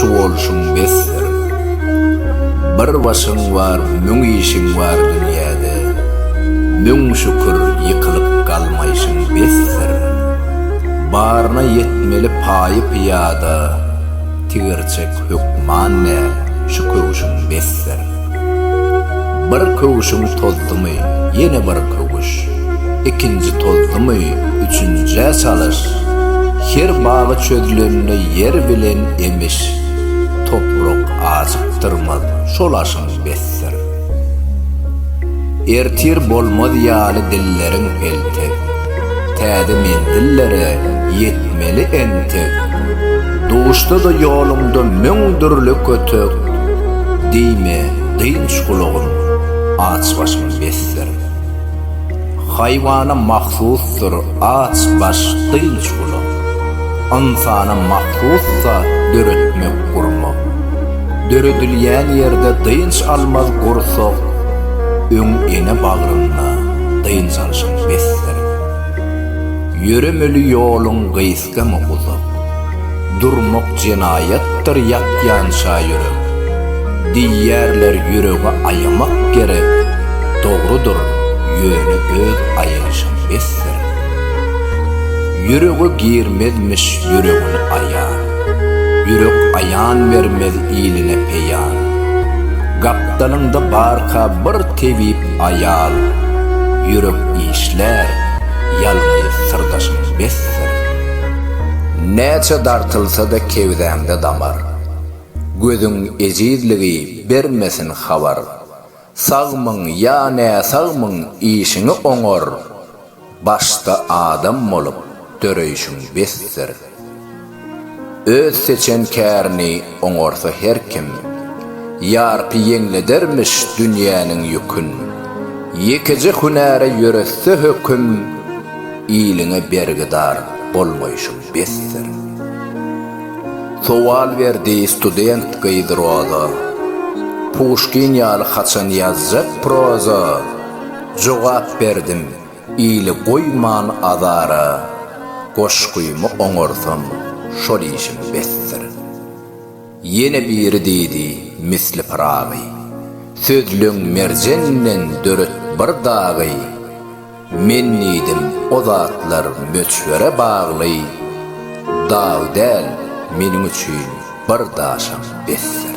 Şu bolşuň besdir. Bir başyň bar, müň işiň bar dünýäde. Müň şükür, ýykylyp galmaýşyň besdir. Baryna ýetmeli paýy pyýada, tigirçek hökman däl, şu köwşüň besdir. Bir köwşüň tozdumy, ýene bir köwüş. Ikinji tozdumy, üçünjä çalyş. Her bagy çözlende ýer bilen emiş. Toprak ajykdyrmaz, şol aşyň besdir. Ertir bolmaz ýaly dilleriň peltek. Täze menzillere ýetmeli entek. Duşda-da ýoluňda müň dürli kötek. Diýme, dynç gulagym, aç başyň besdir. Haýwana mahsusdyr aç baş, dynç gulag. Ynsana mahsus zat döretmek, gurmak. Döredilýän ýerde dynç almaz gursak. Öň ene bagrynda. dynç alşyň besdir. Ýöremeli ýoluň gysgamy uzak, durmak jenaýatdyr ýakýança ýürek. Diýýärler ýüregi aýamak gerek, dogrudyr, ýöne öz aýalyşyň besdir. Ýürege girmezmiş ýüregini aýan, ýürek aýan bermez iline peýan. Gapdalyňda barka bir tebip Aýal, ýürek işlär, ýalňyz syrdaşyň besdir. Näçe dartylsa-da kebzäňde damar. Gözüň ejizligi bermesin habar. Sagmyň ýa näsagmyň işiňi oňar. Başda adam bolup döreýşiň besdir. Öz seçen kärini oňarsa her kim, Ýarpy ýeňledermiş dünýäniň ýükün. Ýekeje hünäre ýöresse höküm, Iliňe bergidar bolmaýşyň besdir. Sowal berdi student gyz Roza, Puşkin ýaly haçan ýazjak proza? Jogap berdim, Ili goýman azara, Goşgymy oňarsam, şol işim besdir. Ýene biri diýdi, Misli Pyragy, Sözleň merjenden döret bir dagy. Men diýdim, O zatlar möçbere bagly, Dag däl, meniň üçin bir daşam besdir.